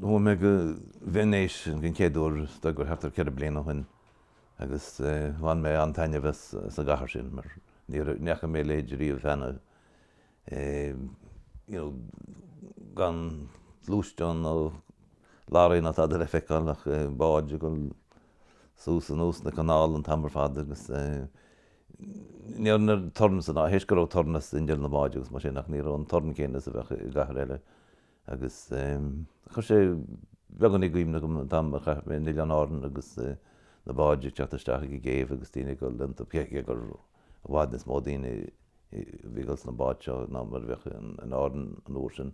Chuaigh mé go Veinéis den chéad uair is dóigh gur thart ar ceithre bliana ó shin agus bhain mé an-taitneamh as an gcathair sin mar ní fhaca mé a leithéid riamh cheana, gan gluaisteán nó laraí ná tada le feiceáil ach báid ag dul suas anuas na canála an t-am ar fad agus ní raibh aon torann san áit tar éis go raibh torann as inneall na mbád agus mar sin ach ní raibh an torann céanna is a bheadh i gcathair eile agus chuir sé beagan i gcuimhne dom an t-am a chaith mé in Oileáin Árann agus na báid ag teacht isteach ag an gcéibh agus daoine ag dul iontu, cé gur i bhfad níos mó daoine a bhí ag dul sna báid seo ná mar a bheadh in Árainn an uair sin.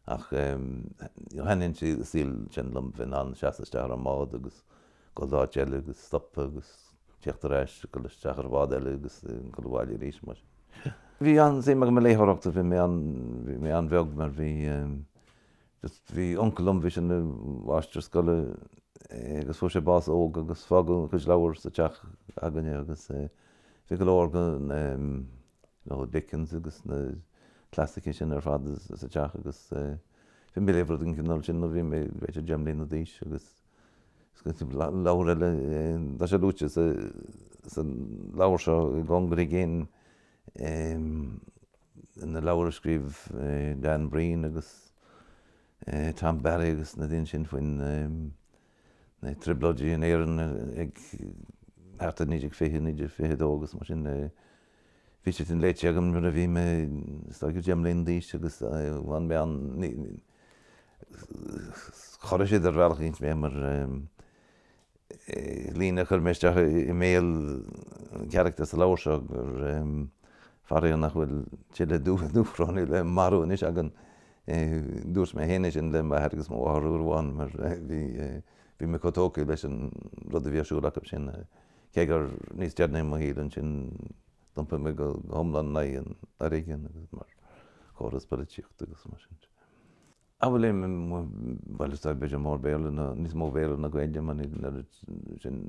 Ach thaitnigh an saol sin liom, bheith in ann seasamh isteach ar an mbád agus dul go áit eile agus stopadh agus teacht ar ais, dul isteach ar bhád eile agus dul abhaile arís, mar sin. Bhí an-suim agam i léitheoireacht ó bhí mé an-bheag mar bhí, bhí uncail liom, bhí sé ina mháistir scoile agus fuair sé bás óg agus fágadh a chuid leabhar sa teach againne agus bhí go leor de na. Nó Dickens agus na clasaicigh sin ar fad sa teach agus bhí mé ag léamh rud den chineál sin nuair a bhí mé b'fhéidir deich mbliana d'aois agus leabhar eile, tá sé luaite sa leabhar seo I gCóngar i gCéin, na leabhair a scríobh Dan Breen agus Tom Barry agus na daoine sin faoin. na Trioblóidí in Éirinn ag thart ar 1920, 1922 agus mar sin. Bhí siad sin léite agam nuair a bhí mé, is dóigh, deich mbliana d'aois agus bhain mé an, chorraigh siad ar bhealach eicínt mé mar líne a chuir mé isteach i mbéal carachtair sa leabhar seo gur faraor nach bhfuil tuilleadh Dúchrónaigh le marú anois againn. Dúirt mé féin é sin le m'athair agus mo mháthair uair amháin mar bhí mé chomh tógtha leis an rud a bhí ar siúl acu sin, cé gur níos deireanaí i mo shaol ansin d'iompaigh mé go hiomlán in aghaidh an fhoréigin agus mar chóras polaitíochta agus mar sin de. Bhuel, bhuel is dóigh, b'fhéidir mó Béarla ná, níos mó Béarla ná Gaeilge mar níl an oiread sin,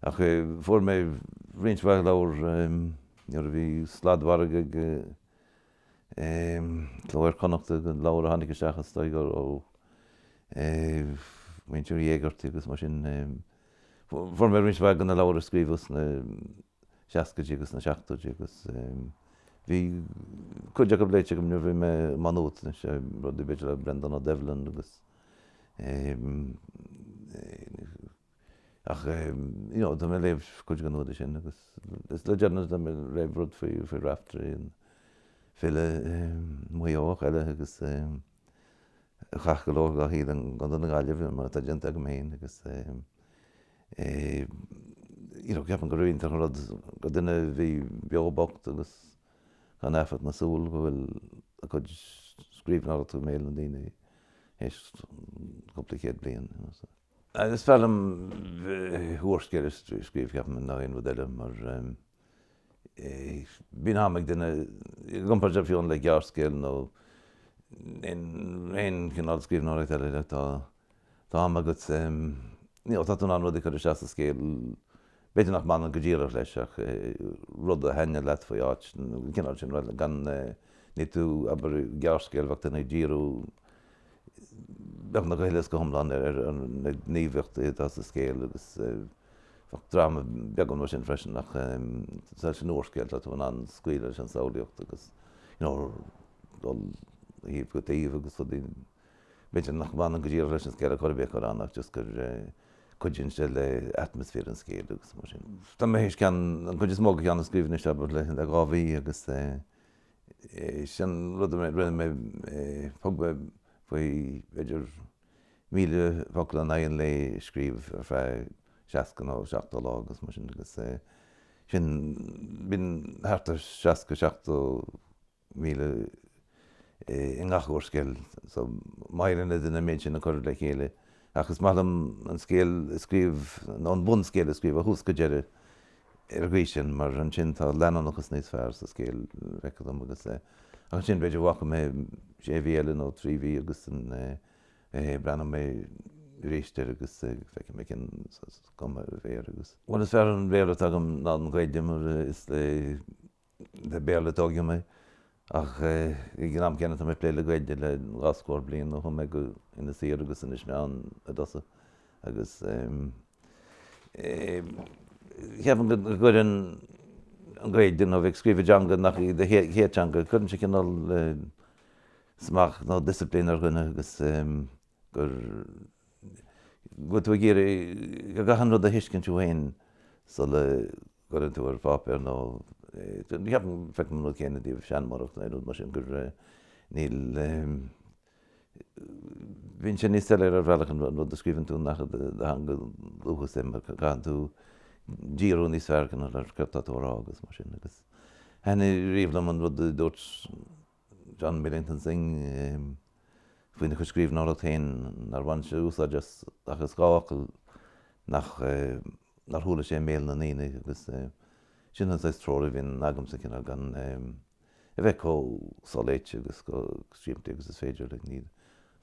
ach fuair mé roinnt mhaith leabhar nuair a bhí sladmhargadh ag, Cló Iar-Chonnachta de leabhair a tháinig isteach is dóigh ó mhuintir Uí Éigeartaigh agus mar sin. Fuair mé roinnt mhaith de na leabhair a scríobhadh sna seascaidí agus sna seachtóidí agus bhí cuid acu léite agam nuair a bhí mé i Má Nuad, rudaí b'fhéidir le Breandán Ó Doibhlin agus. Ach you know tá mé ag léamh cuid den údar sin agus is le deireanas tá mé ag léamh rud faoi Raiftearaí, an file Maigh Eoch eile agus a chaith go leor dá shaol i gContae na Gaillimhe mar atá déanta agam féin agus you know ceapaim gurb iontach an rud do dhuine a bhí beo bocht agus gan amharc na súl go bhfuil a chuid scríbhneoireachta i mbéal na ndaoine théis cúpla céad bliain. Is fearr liom úrscéal a scríobh, ceapaim, ná aon rud eile mar bíonn am ag duine, i gcomparáid fiú amháin le gearrscéal nó aon chineál scríbhneoireacht eile tá am agat, nó tá tú in ann rudaí a chur isteach sa scéal B'fhéidir nach mbaineann go díreach leis ach rud a thaitneodh leat faoi áit, an cineál sin, gan ní tú, abair, gearrscéal, bheadh duine ag díriú, beagnach go huile is go hiomlán ar na gníomhaíochtaí atá sa scéal agus bheadh dráma beagán mar sin freisin ach sa san úrscéal tá tú in ann scaoileadh leis an samhlaíocht agus, you know, dul ó thaobh go taobh agus rudaí. B'fhéidir nach mbaineann go díreach leis an scéal ar chor ar bith ach ach just gur cuidíonn sé le atmaisféar an scéil agus mar sin. Tá mé théis ceann, an chuid is mó de cheann a scríobh anseo abair le dhá mhí agus is é an rud a rinne mé, thug mé faoi b'fhéidir míle focal in aghaidh an lae a scríobh ar feadh seasca nó seachtó lá agus mar sin agus sin bíonn thart ar seasca, seachtó, míle i ngach úrscéal so bheadh ar dhuine an méid sin a chur le chéile ach is maith liom an scéal a scríobh nó an bunscéal a scríobh ó thús go deireadh ar an gcaoi sin mar ansin tá leanúnachas níos fearr sa scéal feictear dom agus ansin b'fhéidir fágfaidh mé sé mhí eile nó trí mhí agus an eh breathnóidh mé arís air agus feicfidh mé cén saghas cuma a bheidh air agus bhuel is fearr an Béarla atá agam ná an Ghaeilge mar is le Le Béarla a tógadh mé ach ag an am céanna tá mé ag plé le Gaeilge le dhá scór bliain ó chuaigh mé go Inis Oírr agus Inis Meáin i dtosach agus cheapfainn go gcuireann an Gaeilge nó bheith ag scríobh i dteanga nach í do chéad teanga, cuireann sé cineál smacht nó disciplín ar dhuine agus go bhfuil tú ag iarraidh go gcaitheann an rud a thuiscint thú féin sula gcuireann tú ar pháipéar nó ceapaim, feicim an rud céanna i dtaobh seanmóireacht nó aon rud mar sin gur níl, bíonn sé níos soiléire ar bhealach an rud a scríobhann tú nach i do theanga dhúchais é mar caitheann tú díriú níos fearr ar céard atá tú a rá agus mar sin agus thaitnigh riamh liom an rud a dúirt John Millington Synge faoina chuid scríbhneoireacht féin nár bhain sé úsáid as ach as dhá fhocal nach nár chuala sé i mbéal na ndaoine agus sin an saghas treoir a bhíonn agamsa, cineál gan a bheith chomh soléite agus chomh simplí agus is féidir.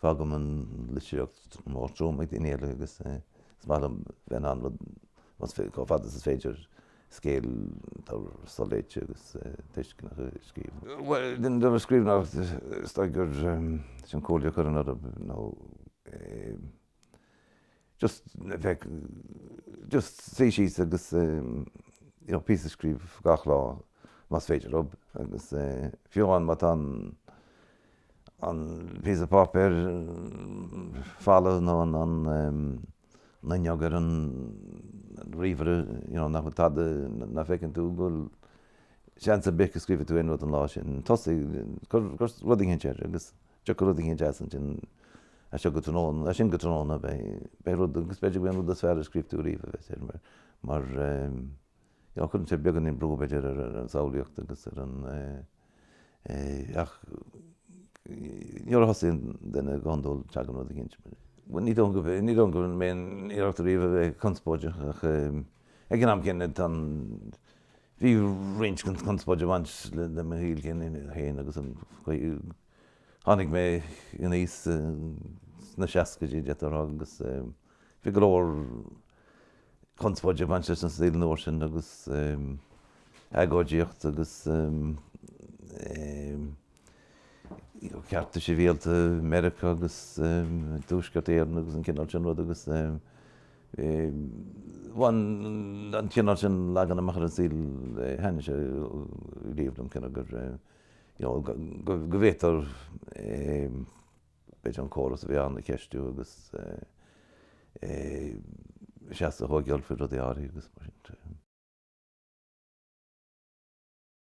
Fágaim an litríocht mór trom ag daoine eile agus is maith liom bheith in ann rud, chomh fada agus is féidir, scéal atá soléite agus tuisceanach a scríobh. Bhuel, i dtaobh an scríbhneoireacht, is dóigh gur sin comhairle a chuirfinn oraibh nó eh. just bheith just suí síos agus you know píosa a scríobh gach lá más féidir libh agus fiú amháin má tá an an píosa páipéir folamh nó an an fhuinneog ar an ríomhaire you know nach bhfuil tada nach bhfeiceann tú go bhfuil seans ar bith go scríobhfaidh tú aon rud an lá sin. Tosaigh, cuir rud eicínt air agus. Tiocfaidh rud eicínt as ansin as seo go tráthnóna, as sin go tráthnóna, beidh rud, agus b'fhéidir gurb é an rud is fearr a scríobh tú ariamh a bheas air, mar gheall, cuireann sé beagáinín brú b'fhéidir ar an samhlaíocht agus ar an é, ach nuair a thosaíonn duine go hiondúil tagann rud eicínt. Bhuel ní dóigh go bhfuil, ní dóigh go mbím ag iarraidh ariamh a bheith conspóideach ach ag an am céanna tá an, Bhí roinnt conspóid ag baint le mo shaol féin agus tháinig mé in aois sna seascaidí, d'fhéadfá a rá, agus bhí go leor conspóide ag baint leis an saol an uair sin agus agóidíocht agus. cearta sibhialta Mheiriceá agus Tuaisceart Éireann agus an cineál sin rud agus bhain an cineál sin leagan amach ar an saol thaitin sé riamh liom cineál gur you know go bhféadtaí b'fhéidir an córas a bhí ann a cheistiú agus seasamh a thógáil faoi rudaí áirithe agus mar sin.